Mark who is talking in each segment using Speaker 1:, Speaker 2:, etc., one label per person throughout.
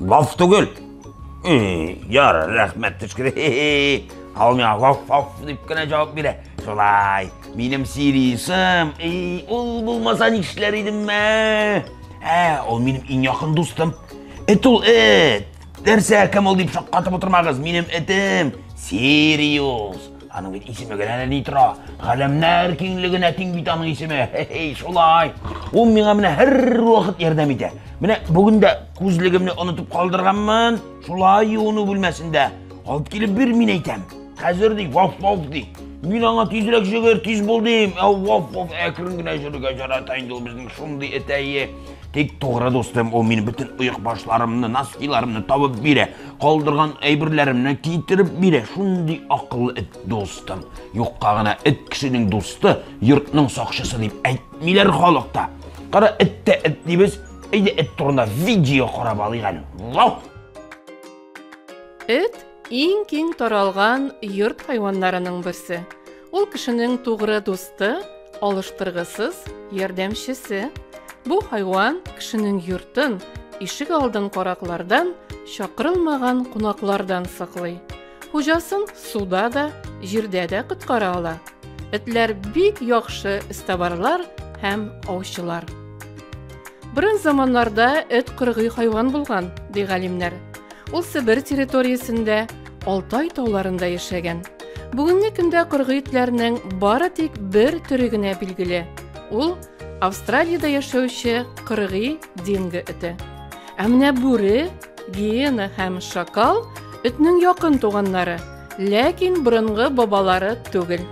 Speaker 1: Лаф түгел. Яр, рәхмәт төшкер. Ау миңа лаф лаф дип кенә җавап бирә. Шулай, минем сирисым. Эй, ул булмаса нишләр идем мә? Ә, ул минем иң якын дустым. Эт ул эт. Нәрсә, кем ул дип шаккатып утырмагыз. Минем этем Сириус. Аның бит исеме генә ни тора? Галәмнәр киңлегенә тиң бит аның исеме. Хе-хей, шулай. Ул миңа менә һәрвакыт ярдәм итә. Менә бүген дә күзлегемне онытып калдырганмын. Шулай юыну бүлмәсендә. Алып килеп бир, мин әйтәм. Хәзер ди, ваф-ваф ди. Мин аңа тизрәк җыгыр, тиз бул дим. Ә ваф-ваф әкрен генә җөрергә җарата инде ул безнең шундый этәе. Тик тугры дустым, ул минем бөтен оек башларымны, носкиларымны табып бирә. Калдырган әйберләремне китереп бирә. Шундый акыллы эт, дустым. Юкка гына эт кешенең дусты, йортның сакчысы дип әйтмиләр халыкта. Кара, эт тә эт дибез. Әйдә эт турында видео карап алыйк әле. Вау!
Speaker 2: Эт иң киң таралган йорт хайваннарының берсе. Ул кешенең тугры дусты, алыштыргысыз ярдәмчесе. Бу хайван кешенең йортын, ишек алдын караклардан, чакырылмаган кунаклардан саклый. Хуҗасын суда да, җирдә дә коткара ала. Этләр бик яхшы эстабарлар һәм аучылар. Борын заманнарда эт кыргый хайван булган, ди галимнәр. Ул Себер территориясендә, Алтай тауларында яшәгән. Бүгенге көндә кыргый итләрнең бары тик бер төре генә билгеле. Ул Австралиядә яшәүче кыргый динго эте. Ә менә бүре, гиена һәм шакал этнең якын туганнары, ләкин борынгы бабалары түгел.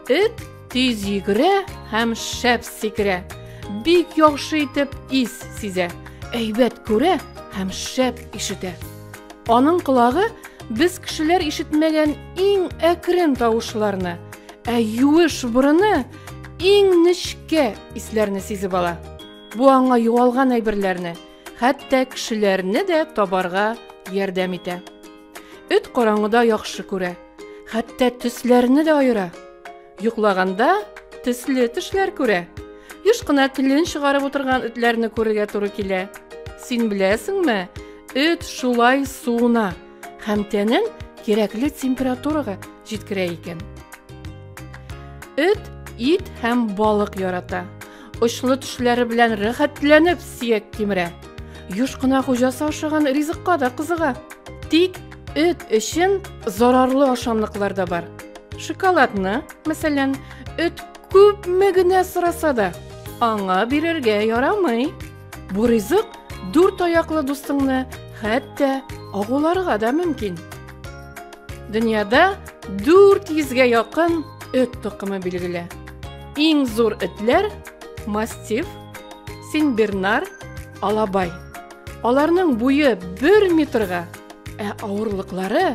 Speaker 2: Эт Тиз йөгерә һәм шәп сикерә. Бик яхшы итеп ис сизә. Әйбәт күрә һәм шәп ишетә. Аның колагы без кешеләр ишетмәгән иң әкрен тавышларны, ә юеш борыны иң нечкә исләрне сизеп ала. Бу аңа югалган әйберләрне, хәтта кешеләрне дә табарга ярдәм итә. Эт караңгыда яхшы күрә. Хәтта төсләрне дә аера. Йоклаганда төсле төшләр күрә. Еш кына телен чыгарып утырган этләрне күрергә туры килә. Син беләсеңме, эт шулай суына һәм тәнен кирәкле температурага җиткерә икән. Эт ит һәм балык ярата. Очлы төшләре белән рәхәтләнеп сөяк кимерә. Юш кына хуҗасы ашаган ризыкка да кызыга. Тик эт өчен зарарлы ашамлыклар да бар. Шоколадны, мәсәлән, эт күпме генә сораса да, аңа бирергә ярамый. Бу ризык дүрт аяклы дустыңны хәтта агуларга да мөмкин. Дөньяда 400-гә якын эт токымы билгеле. Иң зур этләр мастиф, синбернар, алабай. Аларның буе 1 метрга, ә авырлыклары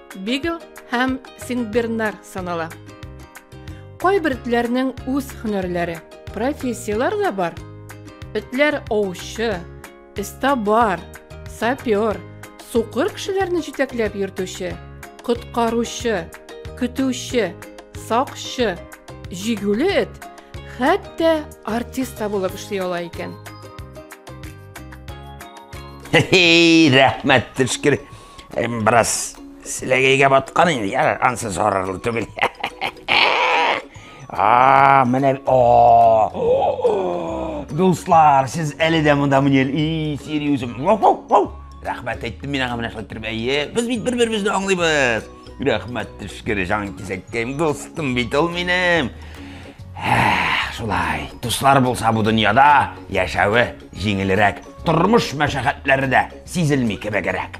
Speaker 2: Бигл һәм Сингбернар санала. Кайбер этләрнең үз һөнәрләре, профессияләр дә бар. Этләр аучы, эстабар, сапер, сукыр кешеләрне җитәкләп йөртүче, коткаручы, көтүче, сакчы, җигүле эт, хәтта артист та булып эшли ала икән.
Speaker 1: Хе-хей, рәхмәт, төшкер. Әм бераз селәгәйгә баткан инде, яр, ансы зарарлы түгел. А, менә о. Дуслар, сез әле дә монда мені и серьезім. Рәхмәт әйттем мин аңа менә шулай торып. Әйе, без бит бер-беребезне аңлыйбыз. Рәхмәт төшкер җан кисәккәем, дустым бит ул минем. Шулай, дуслар булса бу дөньяда яшәве Җиңелрәк, тормыш мәшәкатьләре дә сизелми кебегрәк.